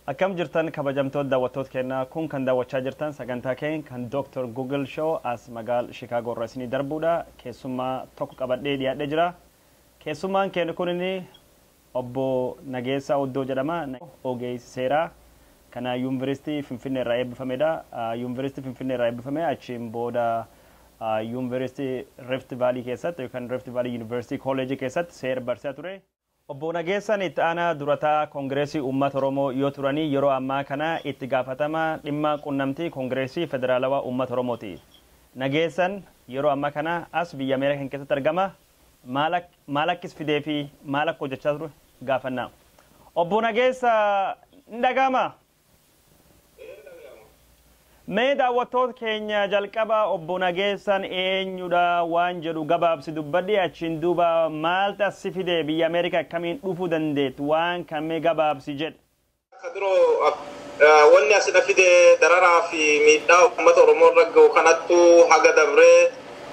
Akkam jirtan kabajamtoot dawwattoot keenna kun kan dawwachaa jirtan sagantaa keen kan Dr Google show as magaal Chicago irra isinii darbuudha keessummaa tokko qabadhee dhiyaadhe jira keessummaan keen kunini obbo Nageessaa Oddoo jedhama ogeessi seeraa kana yuuniversitii Finfinnee irraa eebbifamedha yuuniversitii Finfinnee irraa eebbifame achiin booda yuuniversitii Rift Valley keessatti yookaan Rift Valley University College keessatti seera barsiisaa ture. Obbo Nageessaan Itti Aanaa Dura Taa'aa Kongireesii Uummata Oromoo yoo turanii yeroo ammaa kana Itti Gaafatamaa Dhimma Qunnamtii Kongireesii Federaalawaa Uummata Oromooti. Nageessan yeroo amma kana as biyya Ameerikan keessatti argama. Maal akk maal akkis fidee fi maal akka hojjachaa ture gaafanna. Obbo Nageessa ni dhaga'amaa? Mee daawwattoot keenya jalqaba obbo Nageessan eenyudha waan jedhu gabaabsi dubbadhi achiin duuba maalt as si fide biyya America akkamiin dhufu dandeett waan kan mee gabaabsi jedh. Kadiro wanni asi na fide dararaa fi miidhaa ummata Oromoo irra gahu kanattu haga dabree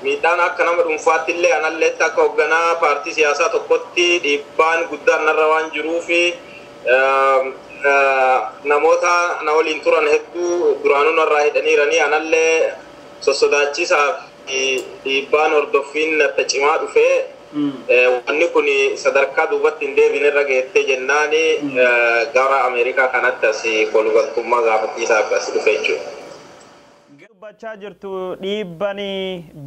miidhaan akka nama dhunfaatti illee analleetti akka hogganaa paartii siyaasaa tokkotti dhiibbaan guddaan narra waan jiruufi Namoota na waliin turan hedduu duraanuu narraa hidhaniiranii anallee sossodaachisaa fi dhiibbaan hordoffiin natta cimaa dhufee wanni kun sadarkaa duubatti hin deebine irra geettee jennaan gara Ameerikaa kanatti as kolugaltummaa gaafachiisaa fi as dhufe jechuudha. Dubbachaa jirtu dhiibban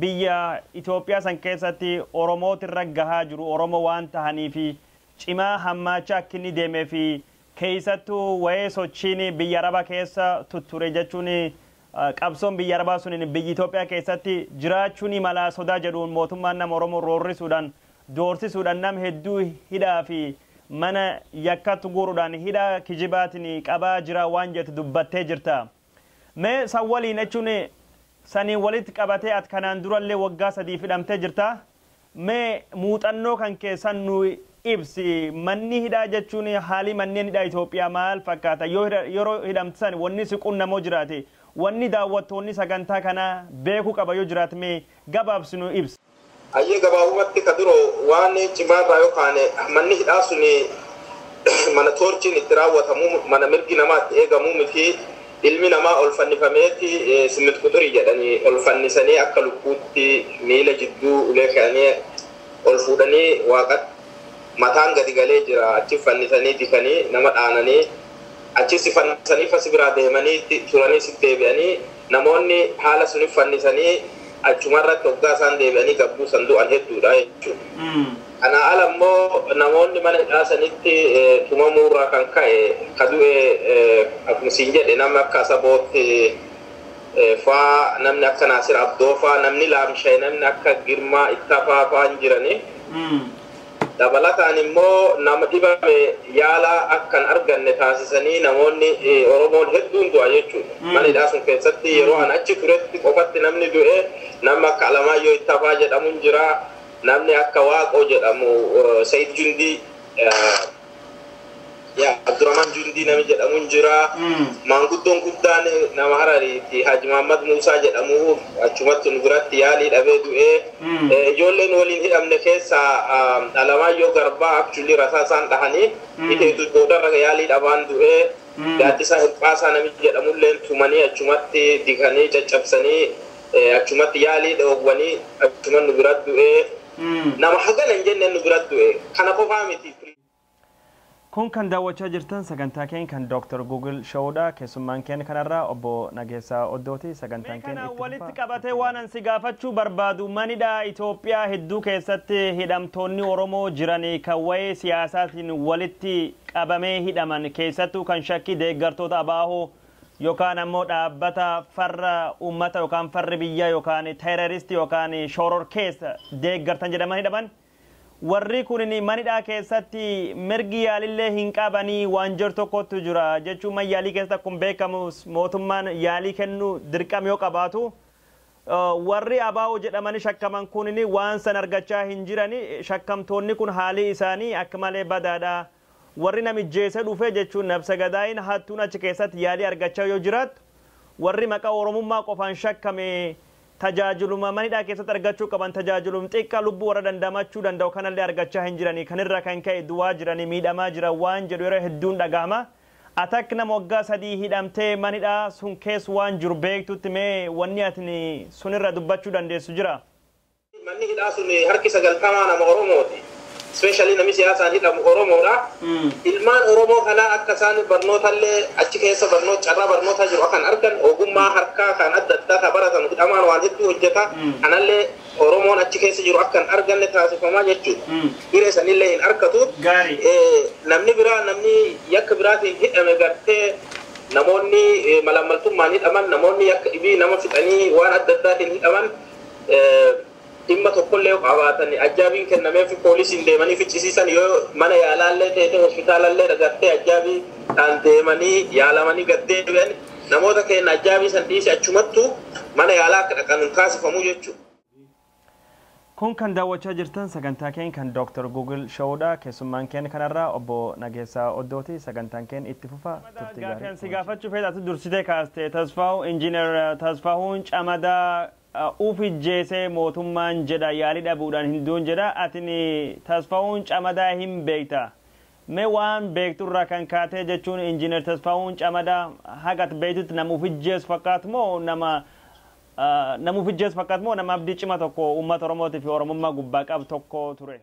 biyya Itoophiyaa san keessatti Oromootirra gahaa jiru Oromoo waan tahaniif cimaa hammaacha akkinni deeme fi keessattu wa'ee sochiin biyya araba keessa tutture jechuun qabsoon biyya arabaa sunin biyyi Itoophiyaa keessatti jiraachuu ni malaa sodaa jedhuun mootummaan nama Oromoo roorrisuudhaan doorsisuudhaan nam hedduu hidhaa fi mana yakkattu guurudhaan hidhaa kijibaatin qabaa jiraa waan jettu dubbattee jirta. Mee san waliin jechuun saniin walitti qabatee at kanaan durallee waggaa sadiif hidhamtee jirta mee muuxannoo kan kee san nuu ibsi manni hidhaa jechuun haalii manneen hidhaa Itoophiyaa maal fakkaata yoo yeroo hidhamte san wanni si qunnamoo jiraate wanni daawwattoonni sagantaa kanaa beekuu qaba yoo jiraat mee gabaabsi nuu ibsi. Hayyee gabaabumatti ka biroo waan cimaa irraa yoo kaane manni hidhaa suni mana toorchiin itti raawwatamu mana mirgi namaa itti eegamu miti ilmi namaa ol fannifameeti simmit quxurii jedhanii ol fannisanii akka lukkuutti miila jidduu ulee kayanii ol fuudhanii waaqatti mataan gadi galee jira achi fannisanii dikanii nama dhaananii Achiis si fannisanii fa si biraa deemanii ti, turaniis it deebi'anii, namoonni haala sunif fannisanii achuma irratti oggaa isaan deebi'anii gad buusan du'an hedduu dha jechuu dha. Kanaa ala immoo namoonni mana hidhaa sanitti tumamuu irraa kan ka'e ka du'e akkuma siin jedhe namni akka Asaboot faa, namni akka Naasir Abdoo faa, namni laamshaye namni akka Girmaa Ittafaa faa hin jiranii. Dabalataan immoo nama dhibame yaala akka hin arganne taasisanii namoonni Oromoon hedduun du'a jechuudha. Mana hidhaa sun keessatti yeroo an achi turetti qofatti namni du'e namni akka Alamaayyoo Ittafaa jedhamu hin jira, namni akka Waaqoo jedhamu, Sayid Jundii, Yaa Abdurrahman Jundii nami jedhamu hin jira. Mm. Maanguddoon guddaan nama Harariiti Haji Mahammad Muusaa jedhamu achumatti nu biratti yaalii dhabee du'ee. Mm. Eh, Ijoolleen waliin hidhamne keessaa ah, Alamaayyoo Garbaa actually rasaa isaan dhahanii Mm. hidheetu boodarra yaalii dhabaan du'ee. Mm. Gaaddisaa Hirphaasaa nami jedhamulleen tumanii achumatti diganii caccabsanii eh, achumatti yaalii dhoowwanii achuman nu biratti du'ee. Nama hagana hin jenne nu bira du'e. Kana qofaa miti. Kun kan daawwachaa jirtan sagantaa keenya kan Dr. Google Show dha. Keessummaan keenya kan har'aa Obbo Nageessaa Oddoo ti. Sagantaan Mee keenya kana itti walitti fufa. qabatee waanan si gaafachuu barbaadu manidhaa Itoophiyaa hedduu keessatti hidhamtoonni Oromoo jiran kan wa'ee siyaasaatiin walitti qabamee hidhaman keessattuu kan shakkii deeggartoota ABO yokaan ammoo dhaabbata farra ummata yokaan farri biyya yokaan terrorist yokaan shororkeessa deeggartan jedhaman hidhaman. Warri kunini mana hidhaa keessatti mirgi yaalillee hin qabanii waan jedhu tokkottu jira. Jechuun man yaalii keessatti akkuma beekamu mootummaan yaalii kennuu dirqama yoo qabaatu warri ABO jedhamanii shakkaman kunini waan san argachaa hin jirani. Shakkamtoonni kun haalii isaanii akka malee badaadha. Warri namijjeese dhufe jechuun nabse gadaayin hattuun achi keessatti yaalii argachaa yoo jiraattu warri maqaa Oromummaa qofaan shakkame tajaajiluma manidhaa keessatti argachuu qaban tajaajilum xiqqa lubbu warra dandamachuu danda'u kanallee argachaa hin jirani kan irra kan ka'e du'aa jirani miidhamaa jiran waan jedhu yeroo hedduun dhagahama atakk nama waggaa sadii hidhamtee manidhaa sun kees waan jiru beektutti mee wanni atni sunirra dubbachuu dandeessu jira? Manni hidhaa sun harki 90 nama Oromooti. Especially nami siyaasaan hidhamu Oromoodha. Ilmaan Oromoo kanaa akka isaan barnootallee achi keessa barnoota carraa barnootaa jiru akka hin arganne ogummaa harkaa kan adda addaa kan baratan hidhamaan waan hedduu hojjeta. Kanallee Oromoon achi keessa jiru akka hin arganne taasifamaa jechuudha. Hiree sanillee hin argatu. Gaarii. Eh, Namni biraa namni yakka biraatiin hidhame gartee namoonni eh, malaammaltummaan hidhaman namoonni yakka dhibii nama fixanii waan adda addaatiin hidhaman dhimma tokkollee yoo qabaatan ajjaabiin kennameefi poolisiin deemanii ficcisiisan yoo mana yaalaallee teete hospitaalallee dhagartee ajjaabiidhaan deemanii yaalamanii gad deebi'an namoota keenya ajjaabii san dhiisi achumattu mana yaalaa akka dhaqan hin taasifamu jechuudha. Kun kan daawwachaa jirtan sagantaa keenya kan Dr. Google Show dha. Keessummaan keenya kanarraa obbo Nageessaa Oddooti. Sagantaan keenya itti fufa. Turtii gaarii. Gaaffiin si gaafachuu fedhu ati dursitee kaaste Tasfaawu Engineer Tasfaahuun Camadaa uf ijjeese mootummaan jedha yaalii dhabuudhaan hin duun jedha atin Tasfaahuun Camadaa hin beekta mee waan beektu irraa kan kaatee jechuun Engineer Tasfaahuun Camadaa haga ati beektutti nama uf ijjeesu fakkaatu moo nama Nama uf ijjeessu fakkaatu moo nama abdii cima tokko uummata Oromootii fi Oromummaa gubbaa qabu tokko ture?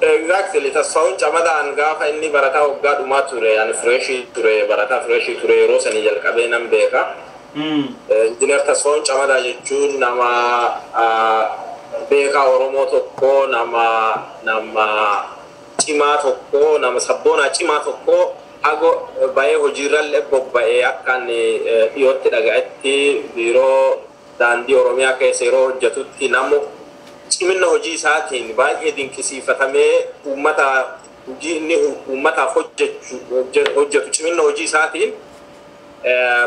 Exactly Tasfahuun Camadaan gaafa inni barataa waggaa dhumaa ture ani fresh ture barataa fresh ture yeroo sanii jalqabee nan beeka. Engineer Tasfahuun Camadaa jechuun nama beekaa Oromoo tokko nama nama cimaa tokko nama sabboonaa cimaa tokko. Ago ba'ee hojiirralle bobba'e. Akkan dhiyootti dhaga'etti Biiroo Daandii Oromiyaa keessa yeroo hojjetutti namu ciminna hojii isaatiin baay'ee dinqisiifatamee uummata hojii inni uummataaf hojjetu ciminna hojii isaatiin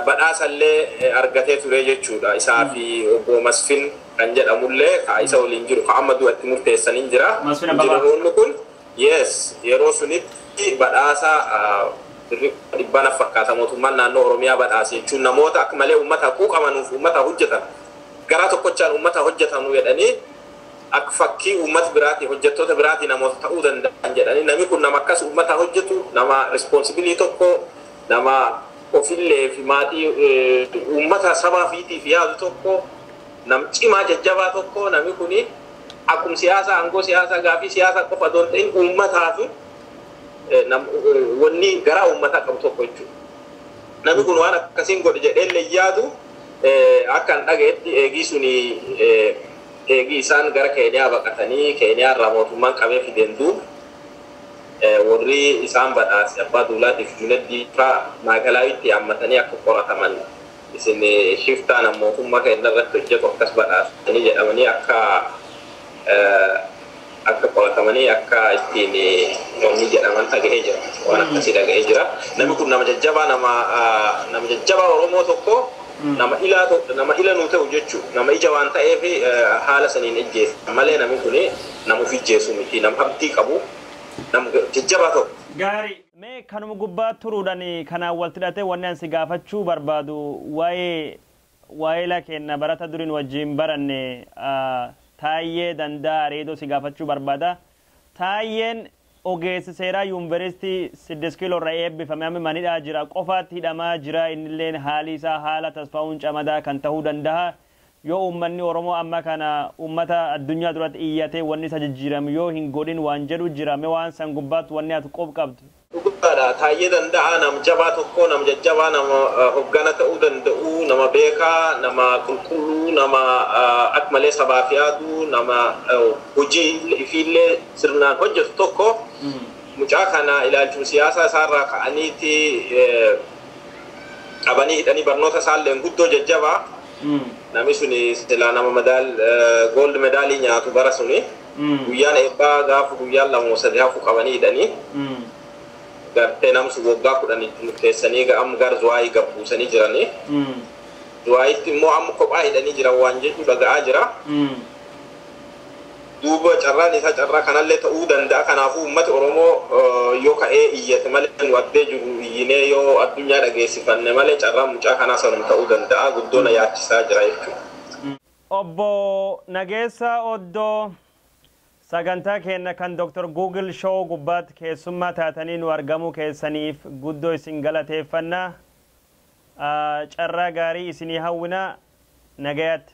badhaasallee argatee ture jechuudha. Isaa fi Obbo Masfin kan jedhamullee ka isa waliin jiru ka amma du'a itti murteessan hin jira. Injiinaroonni kun. Yes yeroo sunitti badhaasa birrii kuma dhibbaa naf fakkaata mootummaan naannoo Oromiyaa badhaase jechuun namoota akka malee uummataa quuqamanuuf uummataa hojjetan garaa tokkochaan uummataa hojjetanu jedhanii akka fakkii uummata biraatii hojjettoota biraatii namoota ta'uu danda'an jedhanii nami kun nama akkas uummataa hojjetu nama responsibilii tokko nama ofillee fi maatii uummata sabaa fiitiif yaadu tokko nam cimaa jajjabaa tokko nami kuni Akkum siyaasa aangoo siyaasaa gaafii siyaasaa qofa osoo hin ta'in uummataatu wanni garaa uummataa qabu tokko jechuudha. Namni kun waan akkasiin godhe jedhee illee hin yaadu akka hin dhagayetti eegii suni eegii isaan gara Keeniyaa baqatanii Keeniyaa irraa mootummaan qabee fideen duub warri isaan badhaase abbaa duulaatiif Junaddii faa maakalaawitti yaammatanii akka qorataman Isin shiftaa na mootummaa keenna irratti hojjatu akkas badhaastanii jedhamanii akka akka qoratamanii akka ittiin wanni jedhaman dhagahee jira. Waan akkasii dhagahee jira. Namni kun nama jajjabaa nama nama jajjabaa Oromoo tokko nama ilaa to- nama ila nuu ta'u jechuu nama ija waan ta'eef haala saniin ijjeese malee namni kun nama of ijjeesu miti nama abdii qabu nama jajjabaa tokko. Gaarii. Mee kanuma gubbaa turuudhan kanaan waltidhatee wanni an si gaafachuu barbaadu waa'ee waayila keenna barata duri nu wajjiin baranne Taayyee Dandaa Areedoo si gaafachuu barbaada. Taayyeen ogeessi seeraa Yuunveristii Siddis Kiiloo irraa eebbifame amma manidhaa jira qofaatti hidhamaa jira innilleen haali isaa haala Tasfaahun Camadaa kan tahuu dandaha Yoo uummanni Oromoo amma kana uummata addunyaa duratti iyyatee wanni isa jijjiiramu yoo hin godhin waan jedhu jira mee waan san gubbaatti wanni ati qub qabdu. Dhugaadha Taayyee Danda'aa nam jabaa tokko nam jajjabaa nama hoggana ta'uu danda'u nama beekaa nama qulqulluu nama ak malee sabaaf yaadu nama hojii ifiillee sirnaan hojjatu tokko mucaa kana ilaalchuma siyaasaa isaarraa ka'aniiti qabanii hidhanii barnoota isaalleen guddoo jajjabaa nami suni silaa nama madaal gold medaalii nyaatu bara suni guyyaan eebbaa gaafa guyyaan lama moo sadi hafu qabanii hidhanii gartee namsu waggaa kudhan itti murteessanii ga- amma gara zuwaayii gad buusanii jiranii zuwaayitti immoo amma kophaa hidhanii jiran waan jechuu dhaga'aa jira Duuba carraan isaa carraa kanallee ta'uu danda'a. Kanaafuu ummati Oromoo yoo ka'ee iyyate malee nu addee jirru iyyinee yoo addunyaa dhageessifanne malee carraan mucaa kanaa sanuma ta'uu danda'a. Guddoo na yaachisaa jira jechuudha. Obbo Nageessaa Oddoo, Sagantaa keenna kan Dr. Google Show gubbaatti keessummaa taatanii nuu argamuu keessaniif guddoo isin galateeffanna. Carraa gaarii isinii hawwina. Nagayaatti.